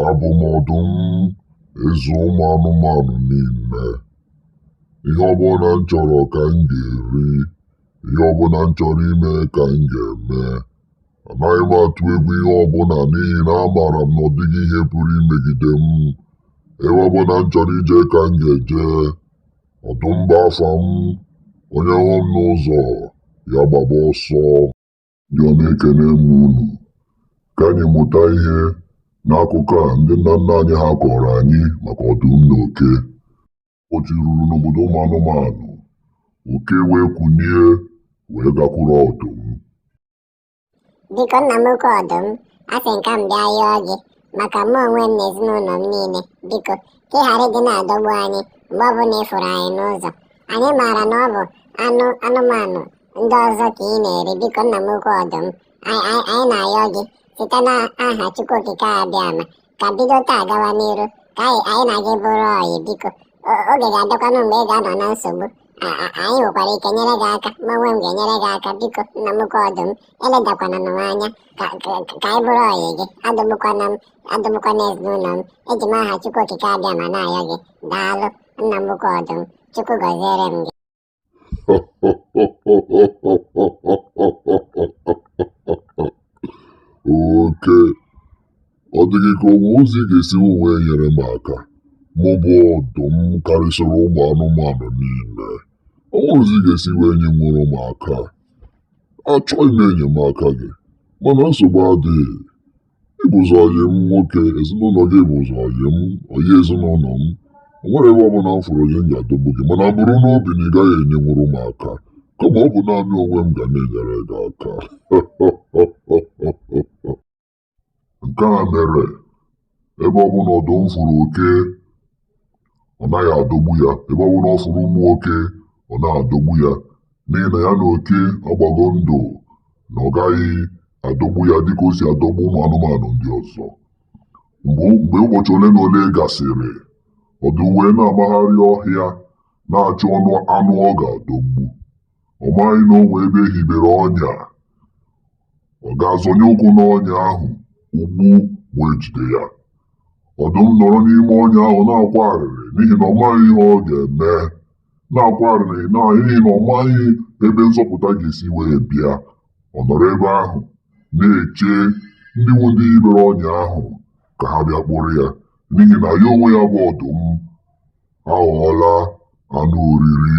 abụ m ọdụm eze ụmụ anụmanụ niile ihe ọbụla m chọrọ ka m ga-eri ihe ọbụla m chọrọ ime ka m ga-eme anaghị m atụ egwu ihe ọbụla n'ihi na amaara m na ọ dịghị ihe pụrụ imegide m ebe ọbụla m chọrọ ije ka m ga-eje ọdụm bụ afa m onye hụ m n'ụzọ ya gbaba ọsọ Ndị ọma ekene m unu. Ka anyị mụta ihe n'akụkọ a ndị nna nna anyị ha kọọrọ anyị maka ọdụm na oke. Otu ruru n'obodo ụmụ anụmanụ, oke wee kunie wee gakwuru ọdụm. Biko nna m ukwu ọdụm, asị m ka m bịa yọọ gị maka mụ onwe m na ezinụlọ m niile biko ka ị ghara ịdị na-adọgbu anyị mgbe ọbụla ị fụrụ anyị n'ụzọ anyị maara na ọ bụ anụmanụ ndị ọzọ ka ị na-eri biko nna m ukwu ọdụm anyị na-ayọ gị site n'aha Chukwu Okike Abịama ka bido taa gawa n'iru ka anyị na gị bụrụ ọyị biko oge ga-abịakwanụ mgbe ị ga-anọ na nsogbu anyị nwekwara ike nyere gị aka mụ onwe m ga-enyere gị aka biko nna m ukwu ọdụm eledakwana m anya ka anyị bụrụ ọyị gị adọgbukwana m adọgbukwana ezinụlọ m eji m aha Chukwu Okike Abịama na-ayọ gị daalụ nna m ukwu ọdụm Chukwu gọziere m gị oke ọ dịghị ka o nwe ụzọ ị ga-esi wee nyere m aka mụ bụ ọdụm karịsịrị ụmụ anụmanụ niile o nwerọ ụzọ ị ga-esi wee nyenwuru m aka achọghị m enyemaka gị mana nsogbu adịghị ị bụzi ọyị m nwoke ezinụlọ gị bụzi ọyị m ọyị ezinụlọ m o nwerọ ebe ọbụla m fụrụ ọyị m ga-adọgbu gị mana buru n'obi na ị gaghị enyenwuru m aka kama ọ bụ naanị onwe m ga na-enyere gị aka nke a mere ebe ọbụla ọdụm fụrụ oke ọ naghị adọgbu ya ebe ọ bụla ọ fụrụ ụmụ oke ọ naghị adọgbu ya n'ihi na ya na oke agbago ndụ na ọ gaghị adọgbu ya dịka o si adọgbu ụmụ anụmanụ ndị ọzọ mgbe mgbe ụbọchị ole na ole gasịrị ọdụm wee na-amagharị ọhịa na-achọ ọnụ anụ ọ ga-adọgbu ọ maghị na o nwe ebe e hibere ọnya ọ gaa zọnye ụkwụ n'ọnya ahụ ụgbụ wee jide ya ọdụm nọrọ n'ime ọnya ahụ na-akwa arịrị n'ihi na ọ maghị ihe ọ ga-eme na-akwa arịrị na n'ihi na ọ maghị ebe nzọpụta ga-esi wee bịa ọ nọrọ ebe ahụ na-eche ndị nwe ndị hibere ọnya ahụ ka ha bịa kpụrụ ya n'ihi na ya onwe ya bụ ọdụm aghọọla anụ oriri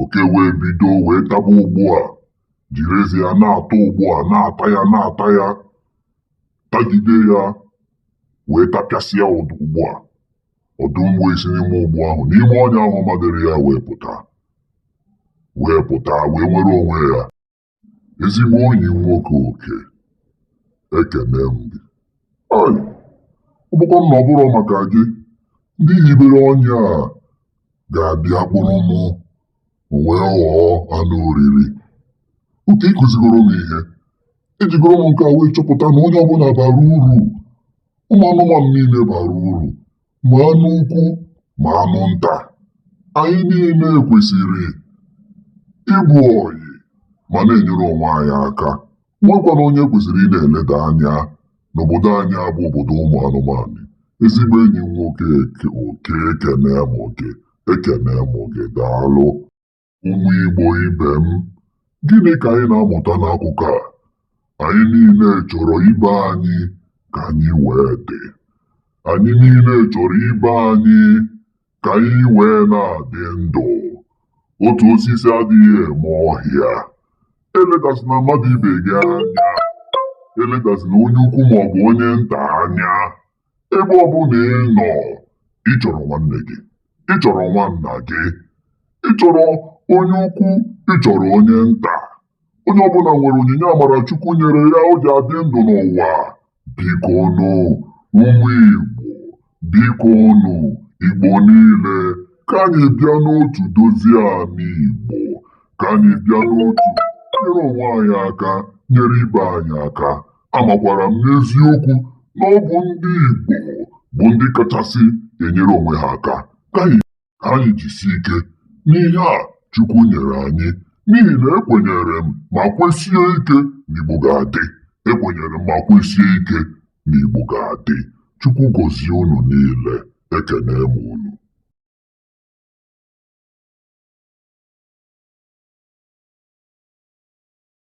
oke wee bido wee taba ụgbụ a jiri eze ya na-atọ ụgbụ a na-ata ya na-ata ya tagide ya wee tapịasịa ụdọ ụgbụ a ọdụm wee si n'ime ụgbụ ahụ n'ime ọnya ahụ madịrị ya wee pụta wee pụta wee nwere onwe ya ezigbo enyi m nwoke oke ekene m gị Ai, ọ bụkwanụ na ọ bụrọ maka gị ndị hibere ọnya a ga-abịa kpụrụ mụ wee ghọọ anụ oriri oke ịkụzigoro m ihe ejigoro m nke a wee chọpụta na onye ọbụna bara uru ụmụ anụmanụ niile bara uru ma anụ ukwu ma anụ nta anyị niile kwesịrị ịbụ ọyị ma na-enyere onwe anyị aka enwekwana onye e kwesịrị ịna-eleda anya n'obodo anyị a bụ obodo ụmụ anụmanụ ezigbo enyi m nwoke oke ekene m gị ekene m gị daalụ Ụmụ Igbo ibe m, gịnị ka anyị na-amụta n'akụkọ a? Anyị niile chọrọ ibe anyị ka anyị wee dị. Anyị niile chọrọ ibe anyị ka anyị wee na-adị ndụ. Otu osisi adịghị eme ọhịa. Eledazina mmadụ ibe gị anya. Eledazina onye ukwu maọbụ onye nta anya. ebe ọbụna ị nọ ị chọrọ nwanne gị ị chọrọ nwanna gị ị chọrọ onye ukwu ị chọrọ onye nta onye ọbụna nwere onyinye amara Chukwu nyere ya o ji adị ndụ n'ụwa biko nụ ụmụ Igbo biko nụ Igbo niile ka anyị bịa n'otu dozie ala Igbo ka anyị bịa n'otu nyere onwe anyị aka nyere ibe anyị aka Amakwara m n'eziokwu na ọ bụ ndị Igbo bụ ndị kachasị enyere onwe ha aka. Ka anyị jisie ike n'ihe a Chukwu nyere anyị n'ihi na ekwenyere m ma kwesie ike na Igbo ga-adị. Ekwenyere m ma kwesie ike na Igbo ga-adị. Chukwu gọzie unu niile. Ekene m unu.